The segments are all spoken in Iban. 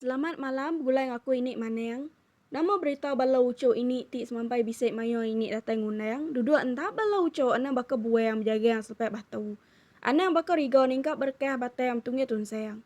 Selamat malam begulai enggau aku ini maneng. Nama berita bala uchu ini ti semampai bisi mayuh ini datai ngundang duduk enda bala uchu anang baka buang bejagang selepai batu. Anang baka riga ningkap berekah batai am tungi tunsang.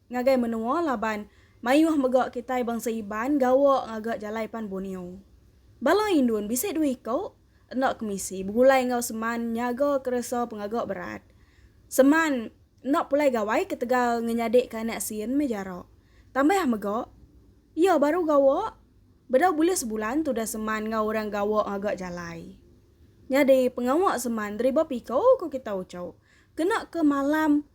Ngagai menua laban mayuh mega kitai bangsa Iban gawa ngaga jalai pan Borneo. Bala Indun bisi dua iko enda kemisi begulai enggau seman nyaga keresa pengaga berat. Seman enda pulai gawai ketegal ngenyadika anak sin meh jara. Tambah mega, iya baru gawa bedau bulih sebulan tudah seman enggau orang gawa ngaga jalai. Nyadi pengawa seman deriba piko ko kita ucho kena ke malam.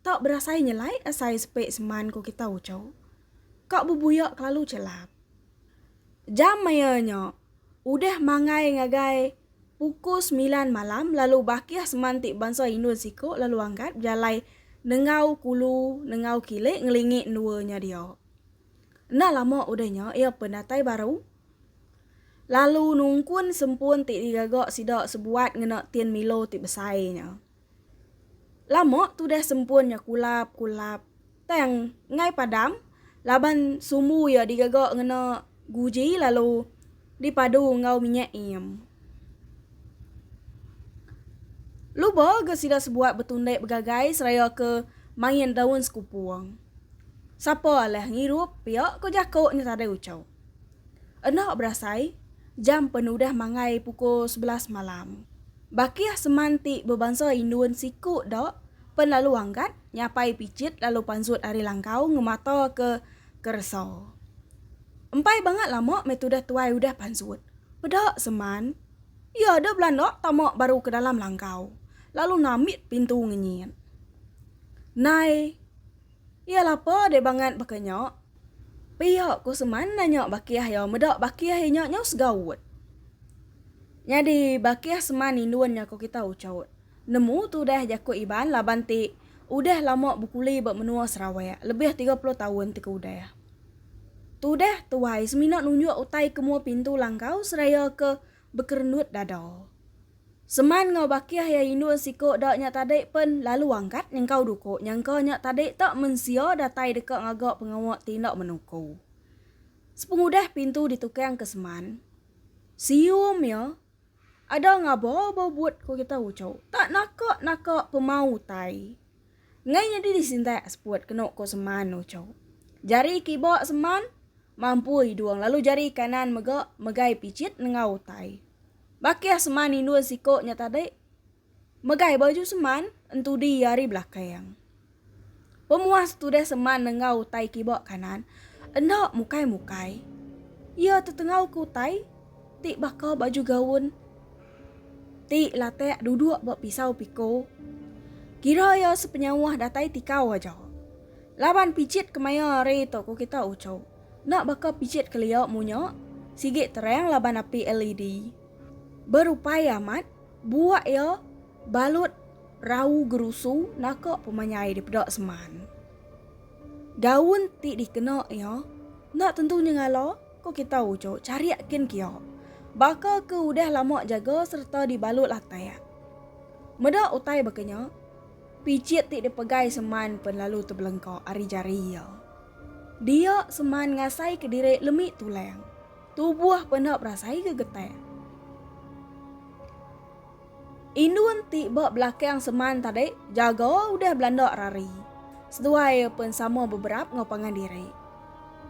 Tau berasai nyelai asai sepe seman ko kita uco. Ka bebuya kelalu celap. Jam maya nya udah mangai ngagai pukul semilan malam lalu bakih seman ti bansa indun siko lalu angkat bejalai nengau kulu nengau kile ngelingi endua nya dia. Enda lama udah nya iya penatai baru lalu nungkun sempun ti digaga sida sebuat ngena tin milo ti besai nya. Lama tudah sempun nya kulap kulap tang enggai padam laban sumbu iya digaga ngena guji lalu dipadu enggau minyak neem. Luba ga sida sebuat betundik begagai seraya ke main daun sekupung. Sapa alah ngirup pia ko jako nya tadai ucho. Enda berasai, jam pen udah mangai pukul sebelas malam. Bakih seman ti bebansa Indun siku da pen lalu anggat nyapai pichit lalu pansut ari langkau ngemata ke keresa. Empai bangat lama meh tudah tuai udah pansut. Peda seman, iya da belanda tama baru ke dalam langkau lalu nambit pintu ngenyit. Nai. Iya lapa deh bangat baka nya. Pia ku seman nanya bakih iya meda bakih inya nyau segaut. Nyadi bakih seman indun nya ku kita uchaut. Nemu tu deh jaku Iban laban ti udah lama bekuli ba menua Sarawak lebih tiga puluh taun ti ke udah. Tu deh tuai semina nunjuk utai ke mua pintu langkau seraya ke bekerenut dada. Seman enggau Bakih iya indu siko da nya tadi pen lalu angkat nyengkau duko nyangka nya tadi tak mensia datai deka ngaga pengawa ti enda menuko. Sepengudah pintu ditukang ke Seman, sium iya, Ada ngaba ba but ko kita ucho, tak naka naka pemau utai. Enggai nyadi disintak seput kenu ko Seman uchu. Jari kiba Seman mampu hidung lalu jari kanan mega megai pichit nengau utai. Bakih Seman indun siko nya tadi megai baju Seman entudi iya ari belakang. Pemuas tudah Seman nengau utai kiba kanan enda mukai-mukai. Iya tetengau ke utai ti baka baju gaun. Ti Latak duduk ba pisau piko. Kira iya sepenyauh datai tikau aja. Laban pijit kemaya hari tu ku kita uchu. Enda baka pijit kelia munya, sigi terang laban api LED. Berupai amat, buak iya balut rau gerusu naka pemanyai dipeda seman. Gaun ti dikena iya enda tentu nyengala. Ku kita uchu chariak kin kio. Baka ke udah lama jaga serta di balut latak. Meda utai baka nya, picit ti di pegai Seman pen lalu tebelengka ari jari iya. Dia Seman ngasai ke diri lemi tulang. Tubuh penda berasai gegetak. Indun ti ba belakang seman tadi jaga udah belanda rari. Seduai iya pun sama beberap enggau pangan diri.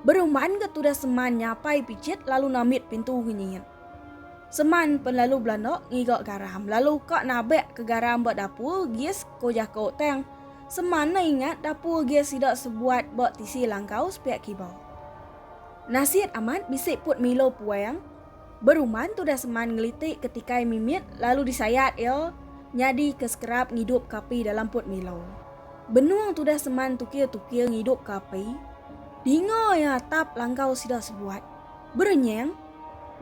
Beruman ke tudah seman nyapai pichit lalu namit pintu ngenyit. Seman pun lalu belanda ngiga garam lalu ka nabak ke garam ba dapur gas ko jako tang seman ne ingat dapur gas sida sebuat ba tisi langkau sepiak kiba. Nasit amat bisi put milo puang. Beruman tudah seman ngeliti ke tikai mimit lalu disayat iya nyadi ke sekerap ngidup ke api dalam put milau. Benung tudah seman tukir-tukir ngidup ke api, dinga iya atap langkau sida sebuat berenyang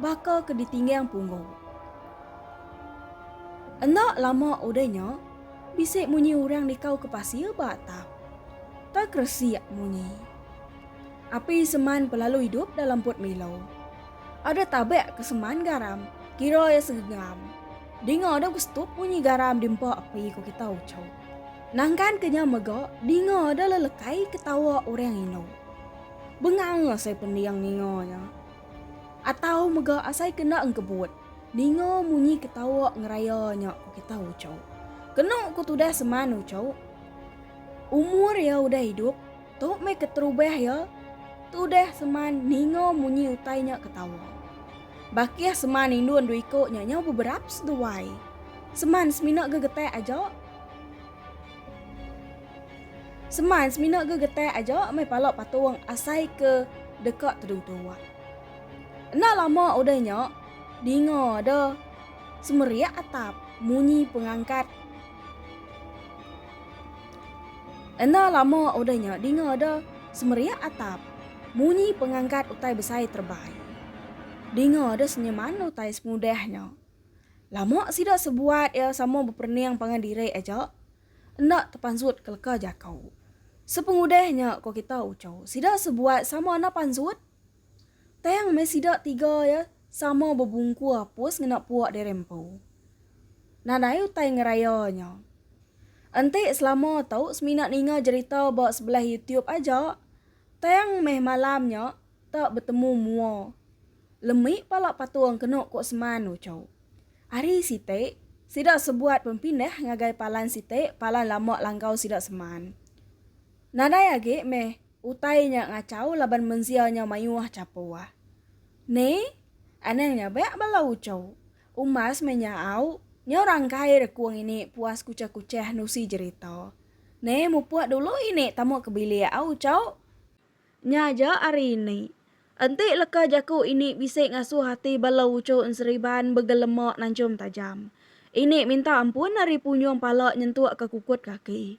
baka ke ditinggang punggu. Enda lama udah nya, bisi munyi orang nikau ke pasir ba atap. Terkeresik munyi. Api seman pelalu idup dalam put milau. Ada tabek ke seman garam, kira iya segegam. Dinga ada gustup munyi garam di empa api ku kita ucu. Nangkan ke nya mega dinga ada lelekai ketawa orang indu. Bengang asai pending ninga nya. Atau mega asai kena engkebut ninga munyi ketawa ngeraya nya ku kita ucu. Kenu ku tudah seman ucu, umur iya udah idup Tu meh keterubah iya, tudah seman ninga munyi utai nya ketawa. Bakih seman indun dua iko nya nyau beberap seduai. Seman semina gegetak aja. Seman semina gegetak aja meh pala patung asai ke deka tedung tuak. Enda lama udah nya, dinga ada semerik atap munyi pengangkat. Enda lama udah nya dinga da semeriak atap munyi pengangkat utai besai terebai. Dinga da senyeman utai semudah nya. Lama sida sebuat iya sama beperening pangan diri aja enda tepansut ke leka jaku. Sepengudah nya ko kita uchu sida sebuat sama enda pansut. Tang meh sida tiga iya sama bebungku apus ngena puak diri empu. Nadai utai ngeraya nya. Enti selama tu semina ninga jerita ba sebelah YouTube aja, tang meh malam nya tak betemu mua. Lemi pala patung kenu ku Seman uchu. Ari siti, sida sebuat pempindah ngagai palan siti palan lama langgau sida Seman. Nadai agi meh Utai nya ngachau laban mensia nyau mayuh chapuh. Ni, anang nya beak bala uchu. Umas meh nya au, nyau rangkai rekung ini puas kuchah-kuchah nusi jerita. Ni, mupuk dulu ini tamu ke bilik au uchu. Nya aja ari ini. Enti leka jaku ini bisi ngasuh ati bala uchu enseriban begelema nanchum tajam. Ini minta ampun ari punyung pala nyentuk ke kukut kaki.